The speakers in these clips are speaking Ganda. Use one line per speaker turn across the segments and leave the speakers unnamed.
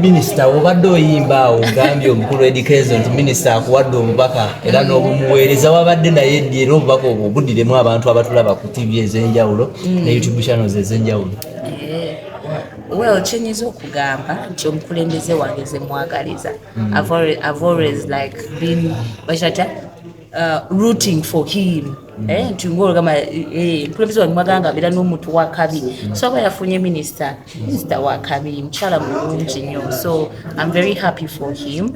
Minisita obadde oyimba awo ogambye omukulu Eddy Kenzo nti minisita akuwadde obubaka era n'obumuweereza wabadde naye ddi era obubaka obwo budiremu abantu abatulaba ku ttivi ez'enjawulo ne mm. YouTube channels ez'enjawulo
well kyenyiza okugamba nti omukulembeze wange ze mwagaliza mm. i've always like been bakirata Uh, rooting for him mm. eh, nti ngaolugamba eh, mukulembeze wange mwaganga abeera n'omuntu wakabi mm. so aba yafunye minisita minisita wakabi mukyala mulungi nnyo so im very happy for him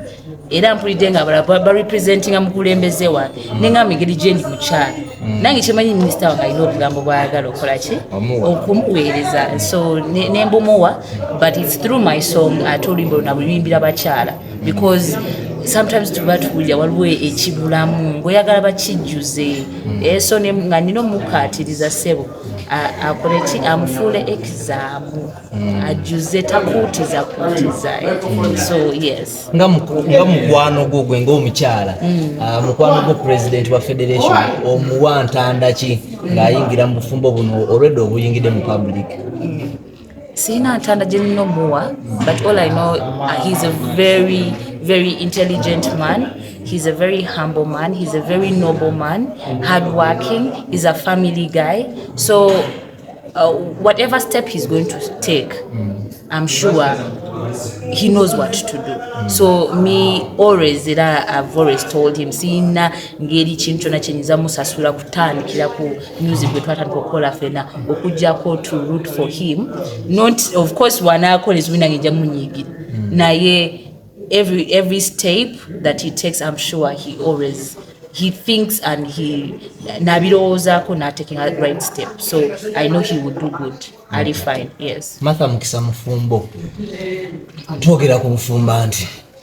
era mpulidde nga abala barepresentinga mukulembeze wange mm. nenga migeri gyendi mukyala nange kyemanyi minisita wange alina obugambo bwayagala okola ki okumuweereza so nembumuwa but its through my song ate oluyimba luna luyimbira bakyala because sometimes tuba tuwulira waliwo ekibulamu ngaoyagala bakijjuze hmm. eh, so nga nina omukkaatiriza ssebo akole ki amufuule ekizaamu hmm. ajjuze takuutiza kuutiza hmm. so yes nga
mukwano gwo gwe ngaomukyala ah, mukwano gwo president wa federation omuwa ntandaki ng'ayingira mu bufumbo buno olwedde obuyingidde mu public
sirina ntanda gye nina omuwa but all i know uh, he's a very very intelligent man he's a very humble man he's a very noble man hard working he's a family guy so uh, whatever step he's going to take i'm sure he knows what to do mm. so me always era i've always told him siyina ngeri kintu kyona kyenyinza musasula kutandikira ku music gwe twatandika okukola fena okujjako to root for him not of course wanaakola ezibi nange nja munyiigira hmm. naye every, every step that he takes i'm sure he always he thinks and he nabirowoozako nataking a right step so i know he would do good ali fine yes matha mukisa mufumbo
twogera ku bufumba nti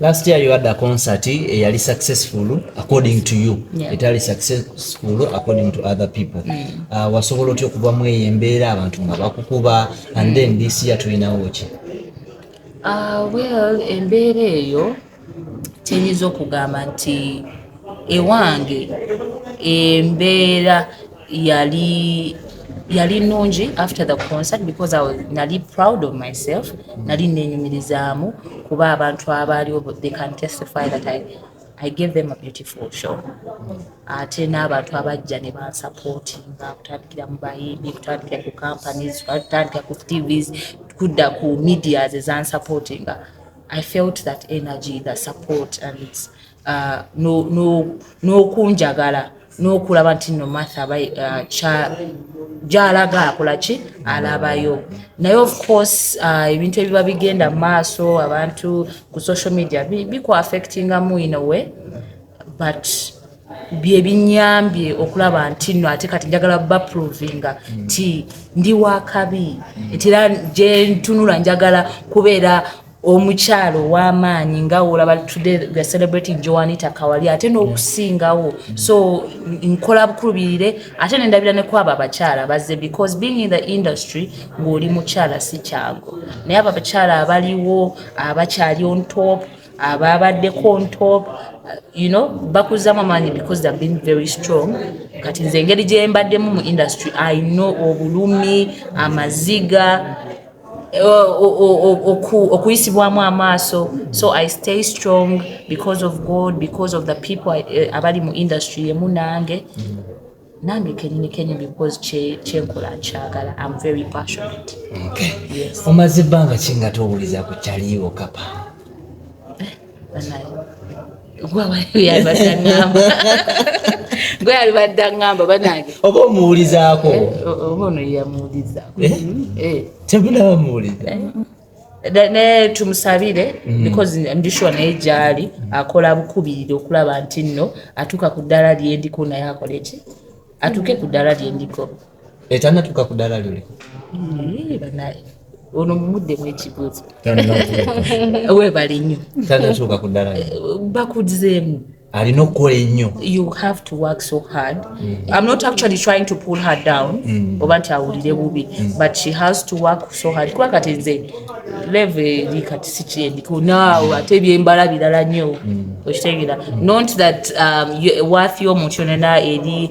Last year you had a
concert eyali eh, successful according to you yeah. etali successful according to other people mm. uh, wasobola otya okuva mu eyo embeera abantu nga bakukuba and mm. then this year tulinawo ki uh, well
embeera eyo tenyinza okugamba nti ewange embeera yali yali nungi after the concert because I was, nali proud of myself nali nenyumirizaamu kuba abantu abaaliwo they can testify that I, I gave them a beautiful show ate n'abantu abajja ne bansupportinga kutandikira mu bayimbi kutandikira ku companies kutandikira ku tvs kudda ku medias ezansupportinga I felt that energy the support and it's, uh, n'okunjagala no, no n'okulaba nti no matha uh, gyalaga akolaki alabayo naye of course uh, ebintu ebiba bigenda mu maaso abantu ku social media bikuaffectingamu in a way but byebinyambye okulaba nti no ate kati njagala baprovinga nti ndi wakabi nti era gyentunula njagala kubeera omukyalo ow'amaanyi nga olaba today we are celebrating joanita kawali ate n'okusingawo so nkola bukulubirire ate nendabira ne kwabo abakyala bazze because being in the industry ng'oli mukyala si kyago naye abo abakyala abaliwo abakyali on top ababaddeko on top you know bakuzzamu amaanyi because they've been very strong kati nze engeri gyembaddemu mu industry i know obulumi amaziga okuyisibwamu amaaso so i stay strong because of god because of the people eh, abali mu industry emu nange nange kenyini kenyini because kyenkola nkyagala am very passionate
omaze
ebbanga kinga
towuliza ku kyaliwo kapa
gwe alibadde aŋamba banange oba omuwulizaako
eh, oba ono
yamuwulizaako eh? eh.
tebulaba muwuliza
naye tumusabire mm. because ndishuwa naye gyali akola bukubirire okulaba nti nno atuuka ku ddala lyendiko naye akole ki atuuke ku ddala lyendiko etanatuuka
ku ddaala lyoli
ono mumudde mwekibuuzo webali nnyo tanatuuka ku ddaala
bakuzeemu
alina okukola
ennyo you have to work
so hard mm. i'm not actually trying to pull her down mm. oba nti awulire bubi mm. but she has to work so hard kuba kati nze leve eri kati sikyendiko naawe ate ebyembala birala nnyo mm. okitegeera mm. not that um, worth y'omuntu yonena eri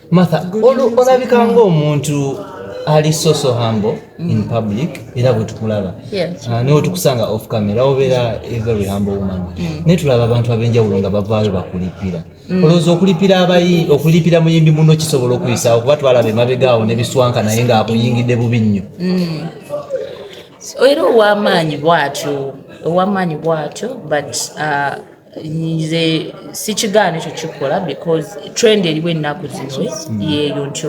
matha olabika ngaomuntu ali soso hambo in mm. public era bwetukulaba ah, naye otukusanga off camera obeera every hambo woman mm. naye tulaba abantu abenjawulo nga bavaayo bakulipira mm. olowooza okulipira abayi okulipira muyimbi muno kisobola okuyisa okuba twalaba emabegaawo nebiswanka naye nga akuyingidde bubi nnyo
era owamaanyi bwatyo owamaanyi bwatyo but uh, nze sikigaana ekyo kikola because trend eriwo ennaku zino hmm. yeeyo nti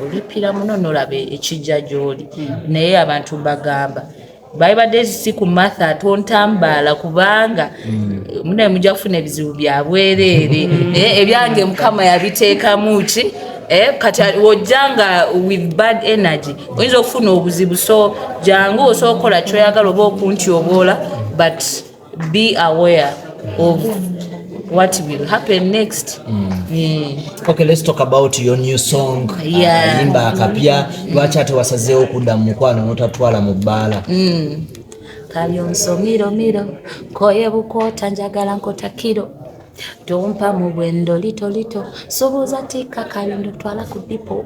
olipira muno nolaba ekijja gyoli hmm. naye abantu mbagamba baibadde si ku matha tontambaala kubanga hmm. munaye mujja kufuna ebizibu byabwereere eh, ebyange mukama yabiteekamu ki eh, kati wojja nga with bad energy oyinza okufuna obuzibu so jangu osookola kyoyagala oba okunti oboola but be aware of what will happen next mm. Mm.
okay let's talk about your new song uh, yeah. ayimba akapya lwaki ate wasazeewo okudda mu mukwano notatwala mu bbaala mm.
kalyonso miromiro koye bukwota njagala nkota kiro tompa mu bwendo litolito subuuza tikka kayondo twala ku dipo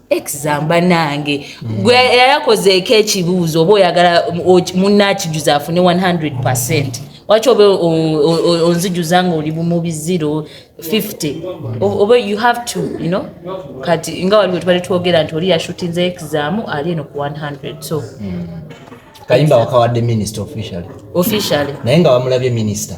examba nange mm. gwe yayakozeeko ekibuuzo oba oyagala munna akijuza afune 100 percent waki oba onzijuza nga oli bumubi 0 50 oba you have to you know kati nga waliwo tubali twogera nti oli yashutinze examu ali eno ku 100 so mm.
kayimba wakawadde minister officially officially naye nga wamulabye minister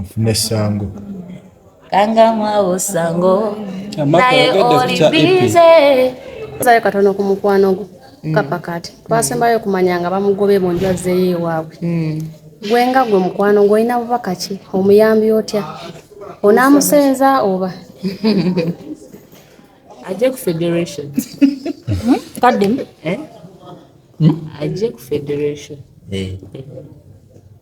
nfune sango kanga
mwawo sango naye
oli bize sayo
katono ku mukwano gwo mm. kapa kati twasembayo okumanya nga bamugobe mu nju azzeeyo ewaabwe mm. gwe nga gwe mukwano ng'olina bubaka ki omuyambi otya onaamusenza oba
ajje ku federation hmm?
kaddemu eh? hmm?
ajje ku federation eh.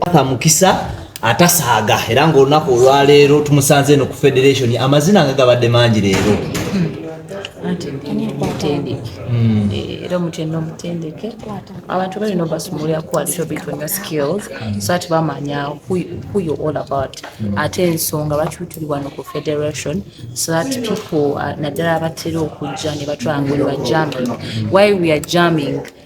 paka
mukisa atasaaga era ngaolunaku olwaleero tumusanze eno ku federation amazina nga gabadde mangi leero hmm.
era omutendo omutendeke abantu balina obasumulira ku atobitona skills so ati bamanya who you all about hmm. ate ensonga bakyutuli wano ku federation so that people uh, naddala abatera okujja ne batwangulibwa jamming why we are jamming mm.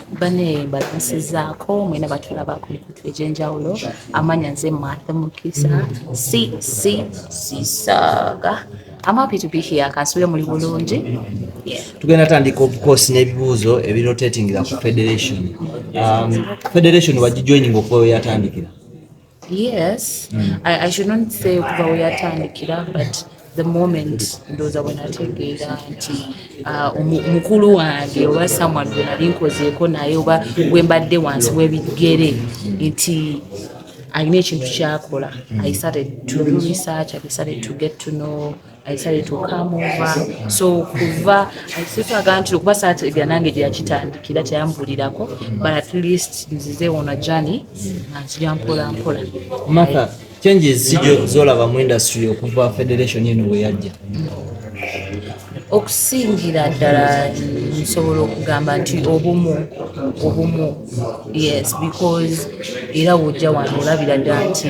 Bane
balansizaako mwena batulaba ku mikutu egy'enjawulo amanya nze Martha Mukisa CC Sisaga I'm happy to be here kansubire muli bulungi tugenda
tandika obukosi n'ebibuuzo ebirotatingira ku federation um, federation wagijoininga okuba weyatandikira yes
mm. I, i should not say okuva weyatandikira but the moment ndowooza bwenategeera nti uh, mukulu wange oba someone bwenali nkozeeko naye oba wembadde wansi webigere nti alina ekintu kyakola i started to do research i started to get to know ayisale tukamuva so kuva ayisitwaga nti okuba saati ebya nange gyeyakitandikira teyambulirako but at least nzize ona jani nga nzija mpola mpola maka
changes sijo zolaba mu industry okuva federation eno weyajja
okusingira ddala nsobola okugamba nti obumu obumu yes because era wojja wano olabira ddala nti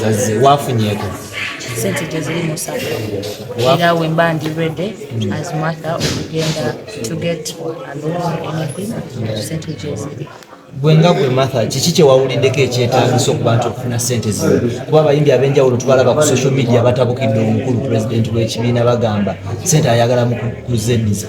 zaze
wafunyeko sente
gyeziri musaka era wemba ndi ready mm. as matha okugenda to get anything sente gyeziri gwe nga gwe
matha kiki kyewawuliddeko ekyetagisa okubantu okufuna sente zino kuba abayimbi abenjawulo tubalaba ku social media batabukidde omukulu pulezidenti w'ekibiina bagamba sente ayagala mu kuzeniza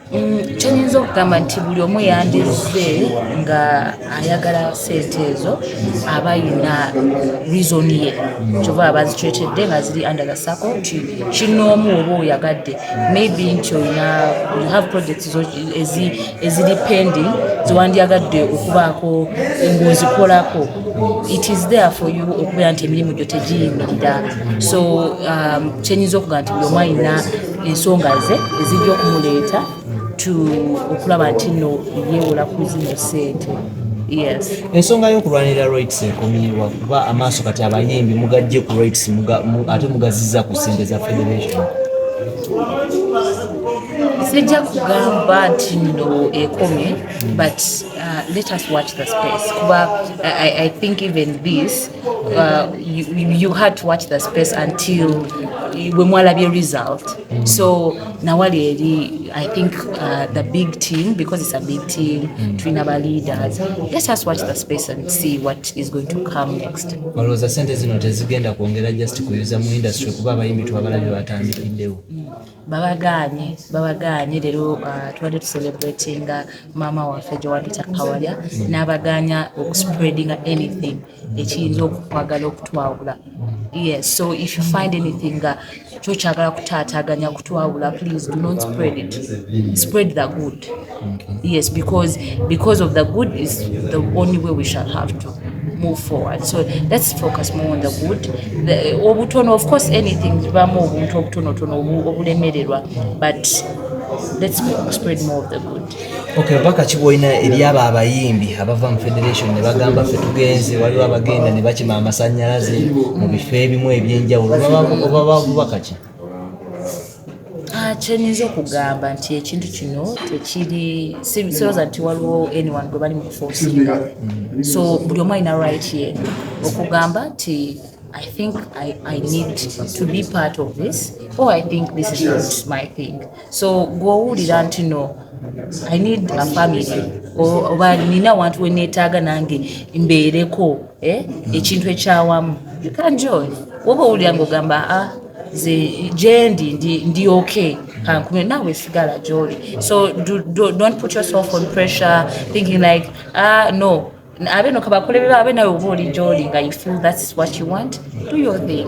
Mm,
kyenyinza okugamba nti buli omu yandizze nga ayagala sente ezo aba yina reason ye kyova abazicwetedde nga ziri under the sako nti kinoomu oba oyagadde maybe nti olina you have projects eziri pending zewandyagadde okubaako ngaozikolako it is there for you okubeera nti emirimu gyo tegiyimirira so um, kyenyinza okugamba nti buli omu ayina ensonga ze ezijja okumuleeta tu okulaba nti no yeewola ku zino ssente ensonga y'okulwanirira
rights ekomiwa kuba amaaso kati abayimbi mugajje ku rights ate mugaziza ku ssente za federation
sijja kugamba nti no ekomye but uh, let us watch the space kuba I, i think even this Uh, you, you had to watch the space until we mwalabye result mm. so nawali eri i think uh, the big team because it's a big team mm. twina ba leaders let's just watch the space and see what is going to come next olowooza sente zino
tezigenda kwongera just kuyuza mu industry kuba abayimbi twabalabye batandikiddewo mm. babagaanye babagaanye leero uh, tubadde tucelebratinga maama waffe jowabita kawalya n'abagaanya okuspreadinga anything ekiyinza okukwagala okutwawula yes so if you find anything nga kyokyagala kutaataganya kutwawula please do not spread it spread the good mm. yes because because of the good is the only way we shall have to move forward so let's focus more on the good the, obutono of course anything zibamu obuntu obutonotono obulemererwa but
let's spread more of the good okay baka
kiboina eri aba abayimbi abava mu federation ne bagamba fe tugenze waliwo abagenda ne bakima amasanyalaze mu bifo ebimu ebyenjawulo oba bakaki Ah,
kyenyinza okugamba nti ekintu kino tekiri siroza nti waliwo anyone gwe bali mu kufosinga so buli omu alina right ye okugamba nti I think I, I need to be part of this or I think this is not my thing so gwowulira nti no I need a family oba nina wantu wenetaaga nange mbeereko eh, ekintu ekyawamu you can join woba owulira ngaogamba ah nze gyendi ndi ndi okay kankume naawe sigala gyoli so do, do, don't put yourself on pressure thinking like ah no abe no kabakole beba abe nawe oba oli gyoli nga you feel that's what you want do your thing